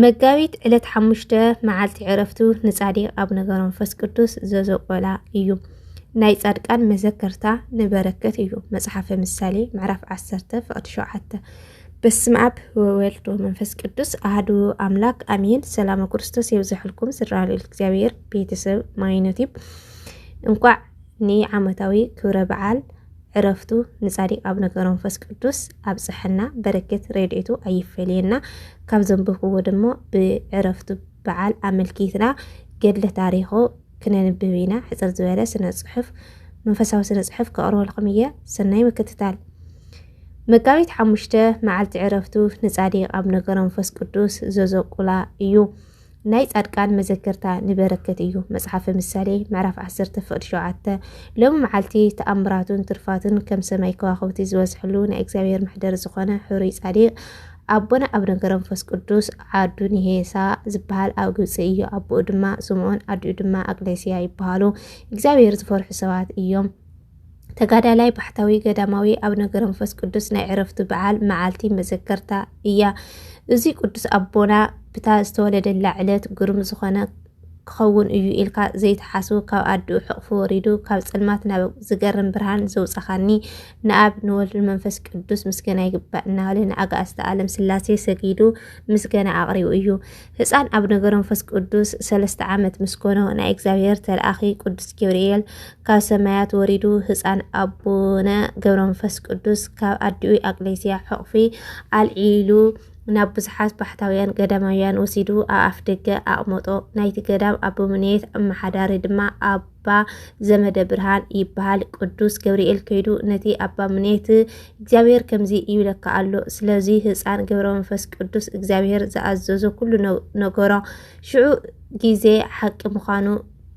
መጋቢት ዕለት ሓሙሽተ መዓልቲ ዕረፍቱ ንጻዲቕ ኣቡነ ገብረመንፈስ ቅዱስ ዘዘቆላ እዩ። ናይ ጻድቃን መዘከርታ ንበረከት እዩ መጽሓፈ ምሳሌ ምዕራፍ 10 ፍቕዲ 7 በስመ ኣብ ወወልድ ወመንፈስ ቅዱስ ኣህዱ ኣምላክ ኣሜን። ሰላም ክርስቶስ የብዛሕልኩም ስድራ ልዑል እግዚኣብሔር ቤተሰብ ማይኖቲብ እንኳዕ ንዓመታዊ ክብረ በዓል ዕረፍቱ ንጻዲቅ ኣብነ ገረንፈስ ቅዱስ ኣብጸሐና በረከት ረድኤቱ ኣይፈለየና ካብ ዘንብብክዎ ደሞ ብዕረፍቱ በዓል ኣመልኪትና ገድለ ታሪኩ ክነንብብ ኢና ሕጽር ዝበለ ስነ ጽሑፍ መንፈሳዊ ስነ ጽሑፍ ከቅርበልኩም እየ ሰናይ ምክትታል መጋቢት ሓሙሽተ መዓልቲ ዕረፍቱ ንጻዲቅ ኣብነ ገረንፈስ ቅዱስ ዘዘቁላ እዩ ናይ ጻድቃን መዘከርታ ንበረከት እዩ። መጽሓፈ ምሳሌ ምዕራፍ 10 ፍቕድ 7 ሎሚ መዓልቲ ተኣምራቱን ትርፋቱን ከም ሰማይ ከዋኽብቲ ዝበዝሕሉ ናይ እግዚኣብሔር መሕደር ዝኾነ ሕሩይ ጻዲቅ ኣቦና ኣብ ነገረ መንፈስ ቅዱስ ዓዱ ንሄሳ ዝበሃል ኣብ ግብፂ እዩ። ኣቦኡ ድማ ስምዖን ኣዲኡ ድማ ኣቅሌስያ ይበሃሉ። እግዚኣብሔር ዝፈርሑ ሰባት እዮም። ተጋዳላይ ባሕታዊ ገዳማዊ ኣቡነ ገረንፈስ ቅዱስ ናይ ዕረፍቱ በዓል መዓልቲ መዘከርታ እያ። እዚ ቅዱስ ኣቦና ብታ ዝተወለደላ ዕለት ግሩም ዝኾነ ክኸውን እዩ ኢልካ ዘይትሓስቡ ካብ ኣድኡ ሕቕፉ ወሪዱ ካብ ጸልማት ናብ ዝገርም ብርሃን ዘውጻኻኒ ንኣብ ንወልድ መንፈስ ቅዱስ ምስገና ይግባእ እናበለ ንኣጋእዝተ ዓለም ስላሴ ሰጊዱ ምስገና ኣቕሪቡ እዩ። ህፃን ኣብ ነገረ መንፈስ ቅዱስ ሰለስተ ዓመት ምስ ኮኖ ናይ እግዚኣብሔር ተለኣኺ ቅዱስ ገብርኤል ካብ ሰማያት ወሪዱ ህፃን ኣቡነ ገብረ መንፈስ ቅዱስ ካብ ኣዲኡ ኣቅሌስያ ሕቑፊ ኣልዒሉ ናብ ብዙሓት ባሕታውያን ገዳማውያን ወሲዱ ኣብ ኣፍደገ ኣቕመጦ። ናይቲ ገዳም ኣቦምኔት ኣመሓዳሪ ድማ ኣባ ዘመደ ብርሃን ይበሃል። ቅዱስ ገብርኤል ከይዱ ነቲ ኣባ ምኔት እግዚኣብሔር ከምዚ ይብለካ ኣሎ፣ ስለዚ ህፃን ገብረ መንፈስ ቅዱስ እግዚኣብሔር ዝኣዘዞ ኩሉ ነገሮ ሽዑ ጊዜ ሓቂ ምዃኑ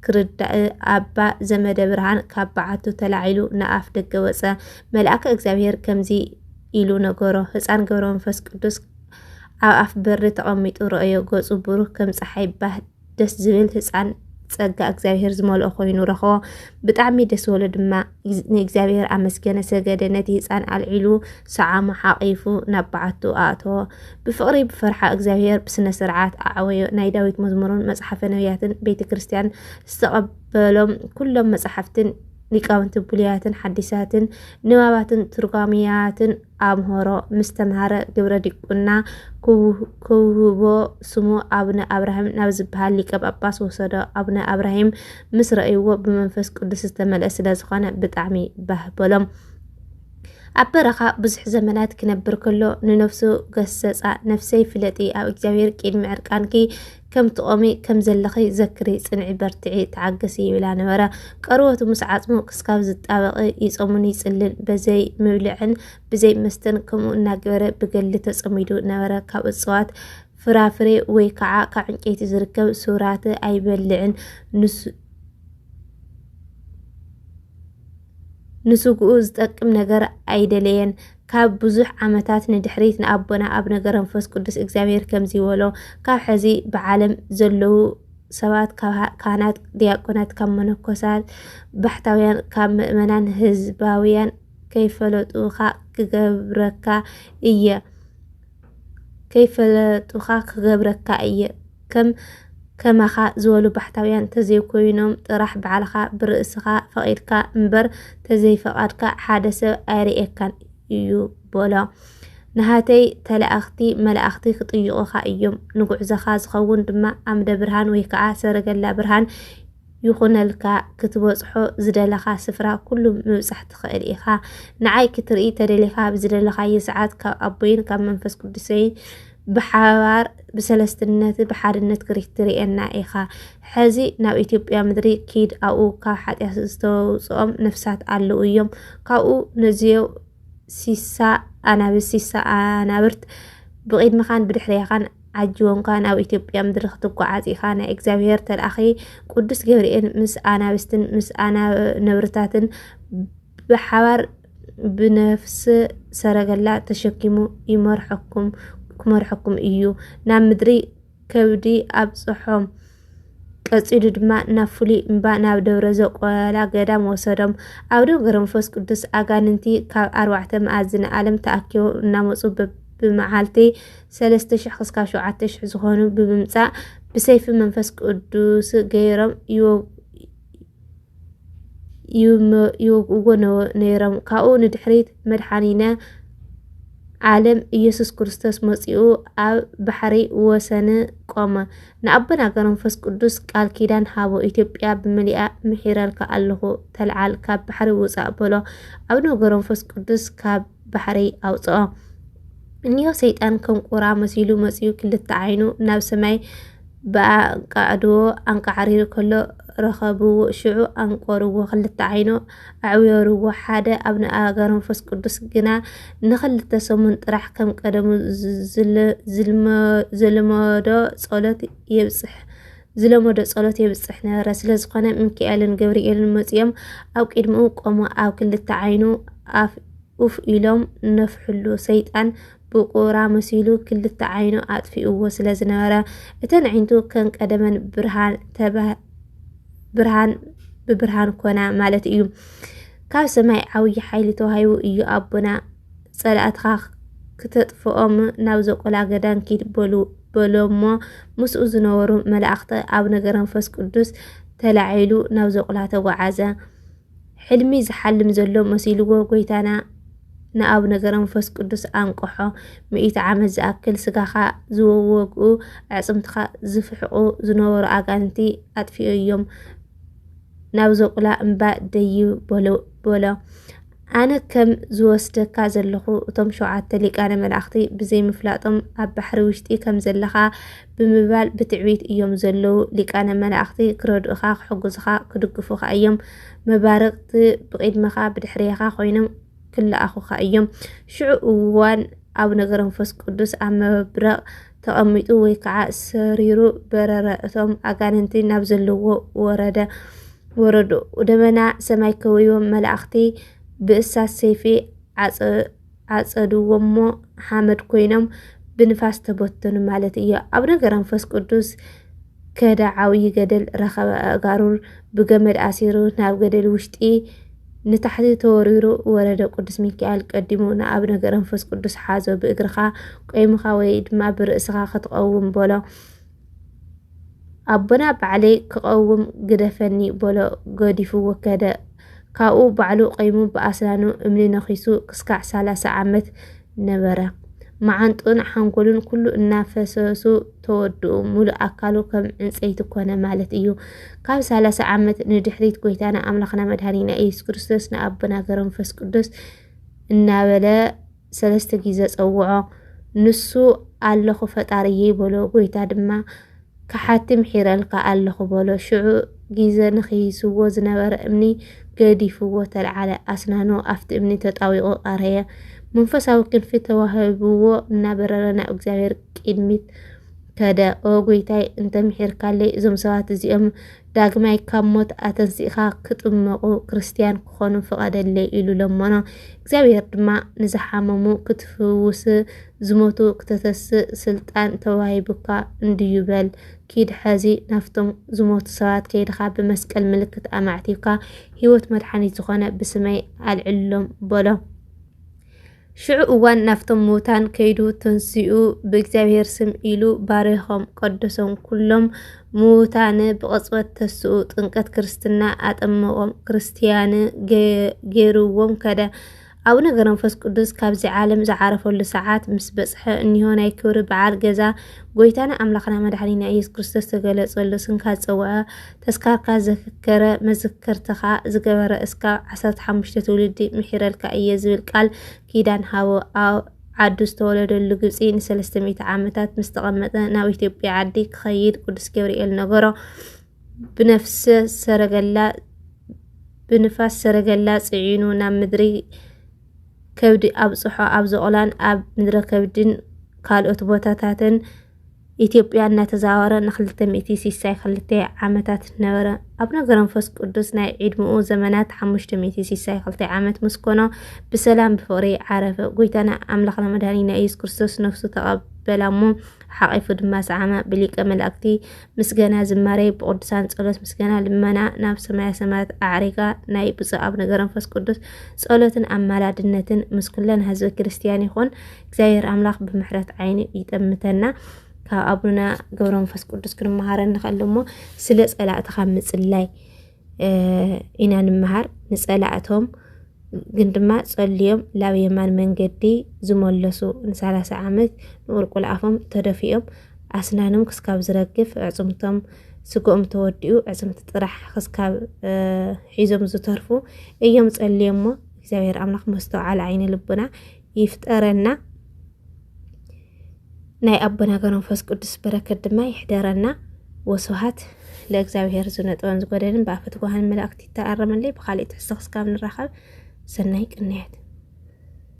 ክርዳእ ኣባ ዘመደ ብርሃን ካብ በዓቱ ተላዒሉ ንኣፍ ደገ ወፀ። መልኣከ እግዚኣብሔር ከምዚ ኢሉ ነገሮ፣ ህፃን ገብረ መንፈስ ቅዱስ ኣብ ኣፍ በሪ ተቐሚጡ ረኣዮ፣ ገፁ ብሩህ ከም ፀሓይ ባህ ደስ ዝብል ህፃን ፀጋ እግዚኣብሔር ዝመልኦ ኮይኑ ረኸቦ ብጣዕሚ ደስ በሎ ድማ ንእግዚኣብሔር ኣመስገነ ሰገደ ነቲ ህፃን ኣልዒሉ ሰዓሙ ሓቂፉ ናብ በዓቱ ኣእተዎ ብፍቅሪ ብፈርሓ እግዚኣብሔር ብስነ ስርዓት ኣዕወዮ ናይ ዳዊት መዝሙርን መፅሓፈ ነቢያትን ቤተ ክርስቲያን ዝተቀበሎም ኩሎም መፅሓፍትን ሊቃውንቲ ብሉያትን ሓዲሳትን ንባባትን ትርጓሚያትን ኣምሀሮ ምስ ተምሃረ ግብረ ዲቁና ክውህቦ ስሙ ኣቡነ ኣብራሂም ናብ ዝበሃል ሊቀ ጳጳስ ወሰዶ። ኣቡነ ኣብራሂም ምስ ረእይዎ ብመንፈስ ቅዱስ ዝተመልአ ስለ ዝኾነ ብጣዕሚ ባህ በሎም። ኣብ በረኻ ብዙሕ ዘመናት ክነብር ከሎ ንነፍሱ ገሰጻ፣ ነፍሰይ ፍለጢ ኣብ እግዚኣብሔር ቅድሚ ዕርቃንኪ ከም ትቆሚ ከም ዘለኺ ዘክሪ ጽንዒ በርትዒ ተዓገሲ ይብላ ነበረ ቀርበቱ ምስ ዓጽሙ ክስካብ ዝጣበቂ ይጸሙን ይጽልን በዘይ ምብልዕን ብዘይ መስተን ከምኡ እናገበረ ብገሊ ተጸሚዱ ነበረ ካብ እጽዋት ፍራፍሬ ወይ ከዓ ካብ ዕንጨይቲ ዝርከብ ሱራት ኣይበልዕን ንስግኡ ዝጠቅም ነገር ኣይደለየን። ካብ ብዙሕ ዓመታት ንድሕሪት ንኣቦና ኣብነ ገረንፈስ ቅዱስ እግዚኣብሔር ከምዚ በሎ ካብ ሕዚ ብዓለም ዘለዉ ሰባት ካብ ካህናት ዲያቆናት ካብ መነኮሳት ባሕታውያን ካብ ምእመናን ህዝባውያን ከይፈለጡኻ ክገብረካ እየ ከይፈለጡኻ ክገብረካ እየ ከም ከማኻ ዝበሉ ባሕታውያን ተዘይኮይኖም ጥራሕ ባዕልኻ ብርእስኻ ፈቒድካ እምበር ተዘይፈቓድካ ሓደ ሰብ ኣይርእየካን እዩ በሎ። ንሃተይ ተላእኽቲ መላእኽቲ ክጥይቑኻ እዮም፣ ንጉዕዞኻ ዝኸውን ድማ ኣምደ ብርሃን ወይ ከዓ ሰረገላ ብርሃን ይኹነልካ ክትበጽሖ ዝደለኻ ስፍራ ኩሉ ምብጻሕ ትኽእል ኢኻ። ንዓይ ክትርኢ ተደሊኻ ብዝደለኻዮ ሰዓት ካብ ኣቦይን ካብ መንፈስ ቅዱሰይን ብሓባር ብሰለስትነት ብሓድነት ክትርእየና ኢኻ። ሕዚ ናብ ኢትዮጵያ ምድሪ ኪድ ኣብኡ ካብ ሓጢኣት ዝተውፅኦም ነፍሳት ኣለዉ እዮም ካብኡ ነዚዮ ሲሳ ኣናብስ ሲሳ ኣናብርት ብቂድምኻን ብድሕሬኻን ዓጅቦምካ ናብ ኢትዮጵያ ምድሪ ክትጓዓዝ ኢኻ ናይ እግዚኣብሄር ተልኣኺ ቅዱስ ገብርኤል ምስ ኣናብስትን ምስ ኣናነብርታትን ብሓባር ብነፍስ ሰረገላ ተሸኪሙ ይመርሐኩም ክመርሐኩም እዩ ናብ ምድሪ ከብዲ ኣብጽሖም። ቀጺሉ ድማ ናብ ፍሉይ እምባ ናብ ደብረ ዘቆላ ገዳም ወሰዶም። ኣብ ደብረ ገብረመንፈስ ቅዱስ ኣጋንንቲ ካብ ኣርባዕተ መኣዝነ ዓለም ተኣኪቦም እናመጹ ብመዓልቲ ሰለስተ ሽሕ ክስካብ ሸውዓተ ሽሕ ዝኾኑ ብምምጻእ ብሰይፊ መንፈስ ቅዱስ ገይሮም ይወግእዎ ነይሮም። ካብኡ ንድሕሪት መድሓኒነ ዓለም ኢየሱስ ክርስቶስ መፂኡ ኣብ ባሕሪ ወሰን ቆመ። ንኣቦና ገረንፈስ ቅዱስ ቃል ኪዳን ሃቦ ኢትዮጵያ ብምልኣ ምሒረልካ ኣለኹ ተልዓል ካብ ባሕሪ ውፃእ በሎ። ኣቡነ ገረንፈስ ቅዱስ ካብ ባሕሪ ኣውፅኦ። እኒሆ ሰይጣን ከም ቁራ መሲሉ መፂኡ ክልተ ዓይኑ ናብ ሰማይ ብኣንቃዕድዎ ኣንቃዕሪሩ ከሎ ረኸብዎ ሽዑ ኣንቆርዎ ክልተ ዓይኑ ኣዕዊርዎ ሓደ ኣብ ንኣእጋር መንፈስ ቅዱስ ግና ንክልተ ሰሙን ጥራሕ ከም ቀደሙ ዝልመዶ ጸሎት የብጽሕ ዝለመዶ ጸሎት የብጽሕ ነበረ። ስለ ዝኾነ ሚካኤልን ገብርኤልን መጺኦም ኣብ ቅድሚኡ ቆሙ ኣብ ክልተ ዓይኑ ኡፍ ኢሎም ነፍሕሉ። ሰይጣን ብቑራ መሲሉ ክልተ ዓይኑ ኣጥፊኡዎ ስለ ዝነበረ እተን ኣዒንቱ ከም ቀደመን ብርሃን ብብርሃን ኮና ማለት እዩ። ካብ ሰማይ ዓብዪ ሓይሊ ተዋሂቡ እዩ ኣቦና ጸላእትኻ ክተጥፍኦም ናብ ዘቆላ ገዳም ኪድ በሉ በሎሞ ምስኡ ዝነበሩ መላእኽቲ ኣብ ነገረ መንፈስ ቅዱስ ተላዒሉ ናብ ዘቁላ ተጓዓዘ። ሕልሚ ዝሓልም ዘሎ መሲልዎ ጐይታና ንኣቡነ ገብረ መንፈስ ቅዱስ ኣንቀሖ። ሚእቲ ዓመት ዝኣክል ስጋኻ ዝወወግኡ ኣዕፅምትኻ ዝፍሕቑ ዝነበሩ ኣጋንቲ ኣጥፊኡ እዮም ናብ ዘቁላ እምባ ደዩ በሎ። ኣነ ከም ዝወስደካ ዘለኹ እቶም ሸውዓተ ሊቃነ መላእኽቲ ብዘይምፍላጦም ኣብ ባሕሪ ውሽጢ ከም ዘለኻ ብምባል ብትዕቢት እዮም ዘለዉ። ሊቃነ መላእኽቲ ክረድኡኻ፣ ክሕግዙኻ፣ ክድግፉኻ እዮም። መባርቕቲ ብቒድመኻ ብድሕሬኻ ኮይኖም ክለኣኹኻ እዮም። ሽዑ እዋን ኣቡነ ገብረመንፈስ ቅዱስ ኣብ መብረቕ ተቐሚጡ ወይ ከዓ ሰሪሩ በረረ፣ እቶም ኣጋንንቲ ናብ ዘለዎ ወረደ ወረዱ፣ ደመና ሰማይ ከበዮም፣ መላእኽቲ ብእሳት ሰይፊ ኣጸድዎሞ ሓመድ ኮይኖም ብንፋስ ተበተኑ ማለት እዩ። ኣብ ነገረ መንፈስ ቅዱስ ከደ ዓብዪ ገደል ረኸበ ኣእጋሩን ብገመድ ኣሲሩ ናብ ገደል ውሽጢ ንታሕቲ ተወሪሩ ወረደ ቅዱስ ሚካኤል ቀዲሙ ንኣብ ነገረ መንፈስ ቅዱስ ሓዞ ብእግርኻ ቆይምኻ ወይ ድማ ብርእስኻ ክትቐውም በሎ ኣቦና ባዕለይ ክቐውም ግደፈኒ በሎ ገዲፍዎ ከደ። ካብኡ ባዕሉ ቀይሙ ብኣስናኑ እምኒ ነኺሱ ክስካዕ ሰላሳ ዓመት ነበረ። መዓንጥኡን ሓንጎሉን ኩሉ እናፈሰሱ ተወድኡ። ሙሉእ ኣካሉ ከም ዕንፀይቲ ኮነ ማለት እዩ። ካብ ሰላሳ ዓመት ንድሕሪት ጎይታና ኣምላኽና መድሃኒና ኢየሱስ ክርስቶስ ንኣቦና ገረመንፈስ ቅዱስ እናበለ ሰለስተ ግዜ ጸውዖ። ንሱ ኣለኹ ፈጣሪየይ በሎ። ጎይታ ድማ ከሓቲ ምሒረልካ ኣለኹ በሎ። ሽዑ ግዜ ንክይስዎ ዝነበረ እምኒ ገዲፍዎ ተልዓለ። ኣስናኑ ኣብቲ እምኒ ተጣዊቑ ቀረየ። መንፈሳዊ ክንፊ ተዋሂብዎ እናበረረ ናብ እግዚኣብሔር ቅድሚት ከደ። ኦ ጎይታይ እንተ ምሒርካለይ እዞም ሰባት እዚኦም ዳግማይ ካብ ሞት ኣተንሲእኻ ክጥመቑ ክርስትያን ክኾኑ ፍቐደለይ ኢሉ ለመኖ። እግዚኣብሔር ድማ ንዝሓመሙ ክትፍውስ ዝሞቱ ክተተስእ ስልጣን ተዋሂቡካ እንድዩ በል ኪድ ሐዚ ናፍቶም ዝሞቱ ሰባት ከይድኻ ብመስቀል ምልክት ኣማዕቲብካ ሕይወት መድሓኒት ዝኾነ ብስመይ ኣልዕሎም በሎ። ሽዑ እዋን ናፍቶም ምውታን ከይዱ ትንሲኡ ብእግዚኣብሔር ስም ኢሉ ባሪኾም ቀደሶም ኩሎም ምውታን ብቕጽበት ተስኡ ጥንቀት ክርስትና ኣጠመቖም ክርስትያን ገይርዎም ከደ። ኣቡነ ገብረመንፈስ ቅዱስ ካብዚ ዓለም ዝዓረፈሉ ሰዓት ምስ በጽሐ እኒሆ ናይ ክብሪ በዓል ገዛ ጎይታና ኣምላኽና መድሓኒና ኢየሱስ ክርስቶስ ተገለጸሉ ስንካ ዝጸውዐ ተስካርካ ዘክከረ መዝከርትኻ ዝገበረ እስካብ ዓሰርተ ሓሙሽተ ትውልዲ ምሒረልካ እየ ዝብል ቃል ኪዳን ሃቦ ኣብ ዓዱ ዝተወለደሉ ግብፂ ንሰለስተ ሚእቲ ዓመታት ምስ ተቐመጠ ናብ ኢትዮጵያ ዓዲ ክኸይድ ቅዱስ ገብርኤል ነገሮ ብነፍሰ ሰረገላ ብንፋስ ሰረገላ ጽዒኑ ናብ ምድሪ ከብዲ ኣብጽሖ ኣብ ዞቕላን ኣብ ምድረ ከብድን ካልኦት ቦታታትን ኢትዮጵያ እናተዛወረ ንክልተ ሚእቲ ሲሳይ ክልተ ዓመታት ነበረ። ኣቡነ ገረንፈስ ቅዱስ ናይ ዕድምኡ ዘመናት ሓሙሽተ ሚእቲ ሲሳይ ክልተ ዓመት ምስ ኮኖ ብሰላም ብፍቕሪ ዓረፈ። ጎይታና ኣምላኽና መድኃኒና ኢየሱስ ክርስቶስ ነፍሱ ተቐብ በላሞ ሓቂፉ ድማ ሰዓመ ብሊቀ መላእክቲ ምስጋና ዝማሬ ብቅዱሳን ጸሎት ምስጋና ልመና ናብ ሰማያ ሰማያት ኣዕሪጋ ናይ ብፁዕ ኣቡነ ገረንፈስ ቅዱስ ጸሎትን ኣማላድነትን ምስ ኩለን ህዝበ ክርስቲያን ይኹን እግዚኣብሔር ኣምላኽ ብምሕረት ዓይኑ ይጠምተና ካብ ኣቡነ ገብረ መንፈስ ቅዱስ ክንመሃረ ንኽእል እሞ ስለ ፀላእትኻ ምፅላይ ኢና ንምሃር ንፀላእቶም ግን ድማ ፀልዮም ላብ የማን መንገዲ ዝመለሱ ንሰላሳ ዓመት ንቁልቁል ኣፎም ተደፊኦም ኣስናኖም ክስካብ ዝረግፍ ዕፅምቶም ስግኦም ተወዲኡ ዕፅምቲ ጥራሕ ክስካብ ሒዞም ዝተርፉ እዮም ፀልዮሞ እግዚኣብሔር ኣምላኽ መስተውዓል ዓይነ ልቡና ይፍጠረና ናይ ኣቦና ገብረ መንፈስ ቅዱስ በረከት ድማ ይሕደረና። ወስብሃት ለእግዚኣብሔር ዝነጥበን ዝጎደልን ብኣፈ ትጉሃን መላእክቲ ይተኣረመለይ። ብካልእ ትሕዝቶ ክስካብ ንራኸብ ሰናይ ቅንያት